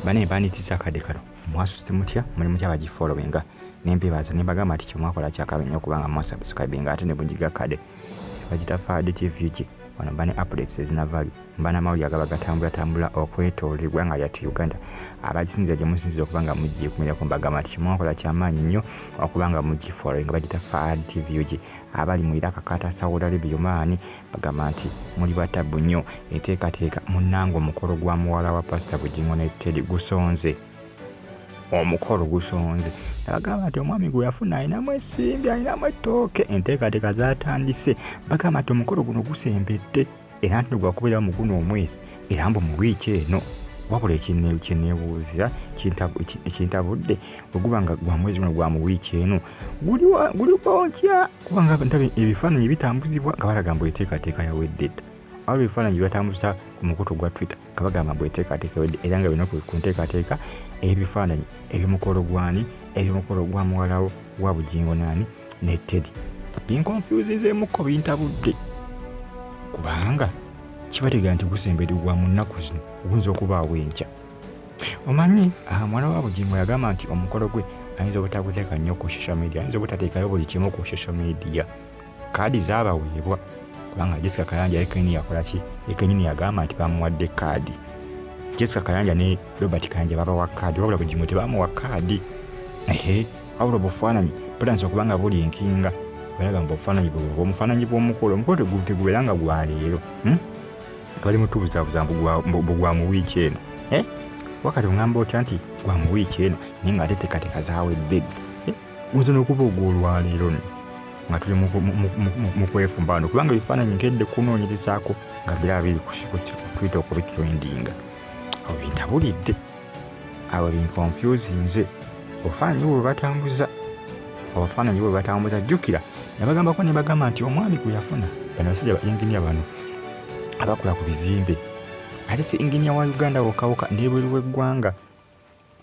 bane banitiza akade kano mwasuze mutya muli mutya bagi followinga nempebaza nembagamba nti kyemwakola kyakabe nyo kubanga mwasubscribinga ate nebunjiga kade bagita fade tvuki wano bane updates ezina value mbana mawulire agaba gatambula tambula okwetoola egwanga lyattu uganda abagisinzira gye musinzira okuba nga mugikumirako mbagamba nti kimwakola kyamaanyi nnyo okuba nga mugifollowinga bagita fad tv ug abali mu iraka kata saudi arabia omaani Agamba nti muli batabbu nnyo enteekateeka munnange omukolo gwa muwala wa Pasita Bugingo ne Teddy gusonze omukolo gusonze nabagamba nti omwami gwe yafuna alinamu esimbi alinamu ettooke enteekateeka zatandise bagamba nti omukolo guno gusembedde era nti negwakubeera mu guno omwezi era mbu mu wiiki eno wabula ekyeneebuuzira kintabudde oguba nga gwa mwezi guno gwa mu wiiki eno guli otya kubanga ndaba ebifaananyi bitambuzibwa nga balaga mbu enteekateeka yawedde dda awo ebifaananyi bibatambuza ku mukutu gwa twitter nga bagamba mbu enteekateeka yawedde era nga bino ku nteekateeka ebifaananyi ebyomukolo gwani ebyomukolo gwa muwalawo wa bugingo naani ne tedi binkonfuzinzeemukko bintabudde kubanga kibategeera nti gusembedde gwa mu nnaku zino guyinza okubaawo enkya omanyi ah, mwana wa bugingo yagamba nti omukolo gwe ayinza obutaguteeka nnyo ku social media ayinza obutateekayo buli kimu ku social media kaadi zaabaweebwa kubanga jessica kayanja yekenyini yakola ki yekenyini yagamba nti bamuwadde kaadi jessica kayanja ne robert kayanja babawa kaadi wabula bugingo tebamuwa kaadi ehe wabula obufaananyi butanisa okuba nga buli enkinga balaba mbu obufaananyi bwomufaananyi bw'omukolo omukolo tegubeera nga gwaleero hmm? bali mutubuzabuza mbugwa mu wiiki eno eh? wakati ungamba otya nti gwa mu wiiki eno naye nga ate tekateka zawedde eh? nze nokuba ogwolwaleero no nga tuli mukwefumba wano kubanga ebifaananyi nkedde kunoonyerezaako nga biraba biri kutuyita okubitrendinga obintabulidde awo binkonfyuzi nze obufaananyi bwe batambuza obufaananyi bwe batambuza jjukira nabagambako ne bagamba nti omwami gwe yafuna bano basajja ba inginiya bano abakola ku bizimbe ate si inginiya wa uganda wokawoka nebweru w'eggwanga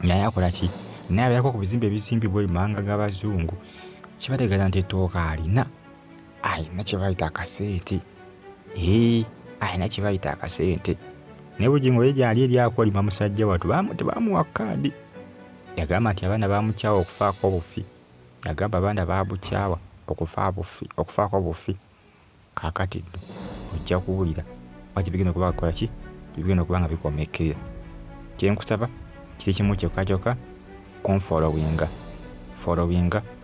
naye akola ki naye abeerako ku bizimbe ebizimbibwa emanga g'abazungu kibategeeza nti ettooka alina alina kye bayita akasente ee alina kye bayita akasente naye bugingo ye gyali eri akolima musajja watu tebamuwa kaadi yagamba nti abaana bamukyawa okufaako obufi yagamba abaana babukyawa okufaako obufi kakati ddo ojja kuwulira oba tebigenda okuba kukola ki tebigenda okuba nga bikomekerera kyenkusaba kiri kimu kyokka kyokka kunfollowinga followinga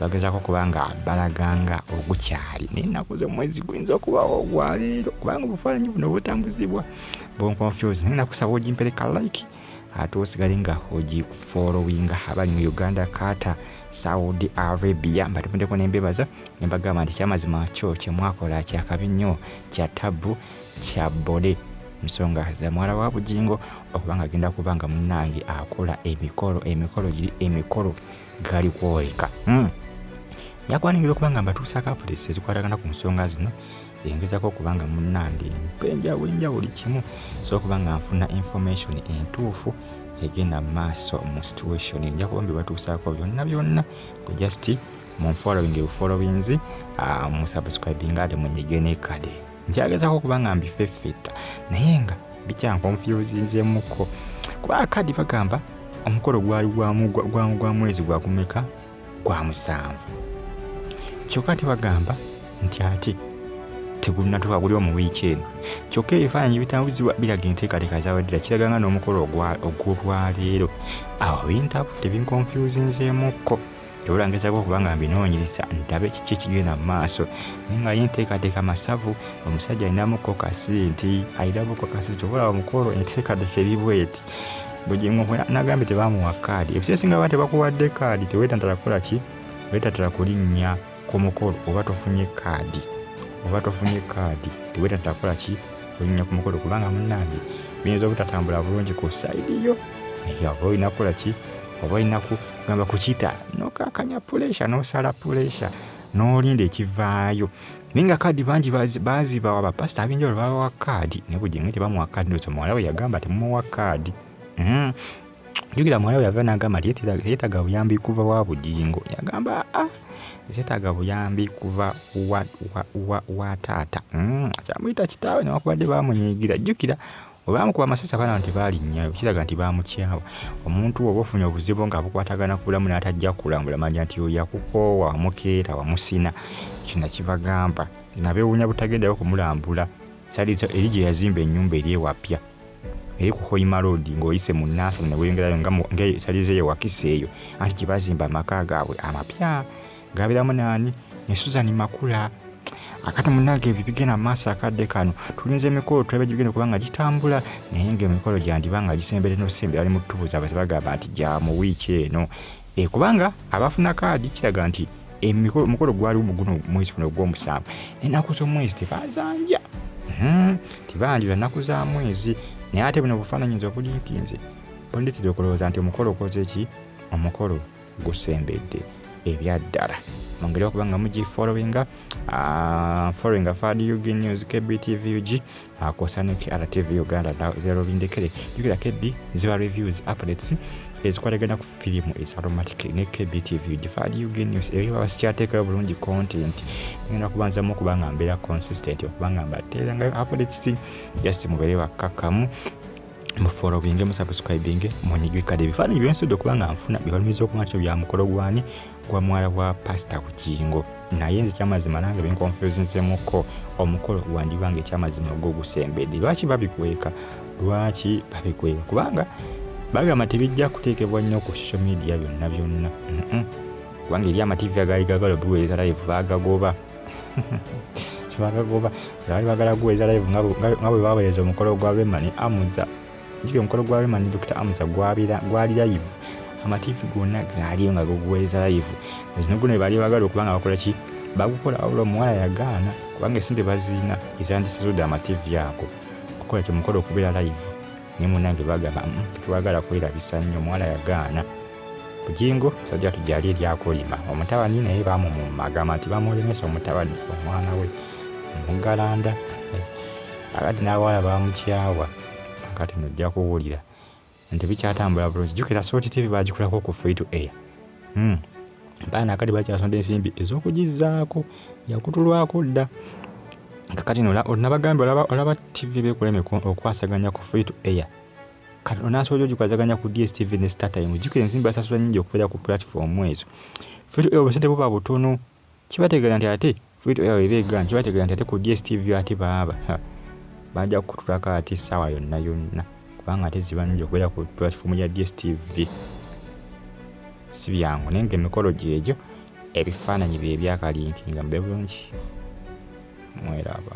bagezako okuba nga balaganga ogukyali naye ennaku z'omwezi guyinza okubawo ogwaleero kubanga obufaananyi buno butambuzibwa bonconfuse naye nakusaba ogimpereka like ate osigale nga ogifolowinga abali mu uganda kata saudi arabia mbatemudeko nembebaza nembagamba nti kyamazima kyo kyemwakola kyakabi nnyo kya tabbu kya bode nsonga zamwala wa bugingo okubanga agenda kuba nga munange akola emikolo emikolo giri emikolo gali kwoleka hmm. yakwaniriza okuba nga mbatuusaako apudesi ezikwatagana ku nsonga zino engezako okuba nga munnange mpenjawo enja buli kimu so okuba nga nfuna information entuufu egenda mu maaso mu situation nja kuba mbibatuusaako byonna byonna ku just munfollowing bufollowinzi ah, musubscribinga ate munyige nekade nkyagezako okuba nga mbifeffetta naye nga bikyankonfyuzinzemuko kuba akadi bagamba omukolo gwali gwa mwezi gwakumeka gwa musanvu kyokka ate bagamba nti ate tegunatuka guli omu wiiki eno kyokka ebifaananyi bitambuzibwa biraga enteekateeka zaweddera kiraga nga n'omukolo ogw'olwaleero awo bintabudde binkonfyuzinzeemukko ebula ngezako okuba nga mbinoonyereza ndabe kiki ekigenda mu maaso naye nga ye nteekateeka masavu omusajja alinamu kokasi nti alinamu kokasi kyobola omukolo enteekateeka eri bweti bugingo nagambye tebamuwa kaadi ebiseera esinga baba tebakuwadde kaadi teweetantala kukola ki weetatala kulinnya ku mukolo oba tofunye kaadi oba tofunye kaadi tewetatakola ki olinya ku mukolo kubanga munange biyinza obutatambula bulungi ku saidi yo oba olina kukola ki oba olina kugamba kukita nokakanya pulesha nosala pulesha nolinda ekivaayo naye nga kaadi bangi bazibawa bapasita ab'enjawulo babawa kaadi naye bujinga tebamuwa kaadi nosa muwala we yagamba temumuwa kaadi hmm. jukira muwala yava nagamba nti yetaga buyambi kuva wa bugingo yagamba ah, ah, zetaga buyambi kuva wa, wa, wa, wa taata mm, kyamuyita kitaawe newakubadde bamunyigira jukira olwamukuba amasasi abaana nti balinnyayo kiraga nti bamukyawa omuntu oba ofunye obuzibu nga bukwatagana kubulamu n'atajja kulambula manya nti oyo yakukoowa wamukeeta wamusina ekyo nakibagamba nabewuunya butagendayo kumulambula salizo eri gye yazimba ennyumba eri ewapya eri ku hoima road ng'oyise mu nansana ne weyongerayo nga mu- nga esalizo eyo wakisa eyo anti gye bazimba amaka gaabwe amapya gabeeramu naani ne suzan makula akati munange ebyo bigenda mu maaso akadde kano tulinze emikolo tulabe gibigenda okuba nga gitambula naye nga emikolo gyandiba nga gisembere nosembera ali mu ttubuza baze bagamba nti gya mu wiiki eno E, kubanga abafuna kaadi kiraga nti omukolo gwaliwo mu guno mwezi guno ogw'omusanvu ennaku z'omwezi tebazanja hmm, tebanjula nnaku za mwezi naye ate buno obufaananyi nze obuli nti nze bunditera okulowooza nti omukolo okoze ki omukolo gusembedde ebyaddala mungeri okuba nga mugifollowinga ah, followinga fadug news kbtvug akosa ne krtv uganda lero bindekere jukira kedi ziba reviews updates ezikwatagana ku firimu ezaromatic ne kbtv gifaali ug news ebyo baba sikyateekera bulungi content ngenda kubanzamu okuba nga mbeera consistent okuba nga mbateerangayo updates just mubeere bakkakkamu mufolowinge musubscribinge munyigikade ebifaananyi byensudde okuba nga nfuna byebalumiza okuba nti bya mukolo gwani gwa mwala wa pasita bugingo naye nze ekyamazima nange binkonfuzinzemuko omukolo gwandiba nga ekyamazima gwo gusembedde lwaki babikweka lwaki babikweka kubanga bagamba tebijja kuteekebwa nnyo ku social media byonna byonna kubanga eri amativi agaali gagala obiweereza live bagagoba bagagoba baali bagala kuweereza live nga bwe baweereza omukolo gwa bemani amuza Jiri omukolo gwa Rema ne Dr. Amusa gwabira gwali live amativi gonna gaaliyo nga gaguweereza live zino guno bebaali bagala okuba nga bakola ki bagukola wabula omuwala yagaana kubanga esente bazirina ezandisizude amativi ago okukola kyo mukolo okubeera live naye munange bagamba mm, tetwagala kwerabisa nnyo omuwala yagaana bujingo musajja watu gyali eryakolima omutabani naye bamumumagamba nti bamulemesa omutabani omwana we omugalanda eh, akati n'abawala bamukyawa kati no ojja kuwulira nti bikyatambula bulungi jjukira sooti tv bagikulako ku free to air hmm. baana akati bakyasonda ensimbi ez'okugizzaako yakutulwako dda kakati no onabagambye olaba tv bekuleme okwasaganya ku free to air kati onasobola ogikwasaganya ku dstv ne startime jjukira ensimbi basasula nyingi okubeera ku platform ezo free to air obusente buba butono kibategera nti ate fito yawe ebe gan kibategera nti ate ku dstv ate baaba bajja kukutulako ate essaawa yonna yonna kubanga ate ziba nungi okubeera ku platform ya dstv si byangu naye nga emikolo gyegyo ebifaananyi bye byakalinkinga mube bulungi mweraba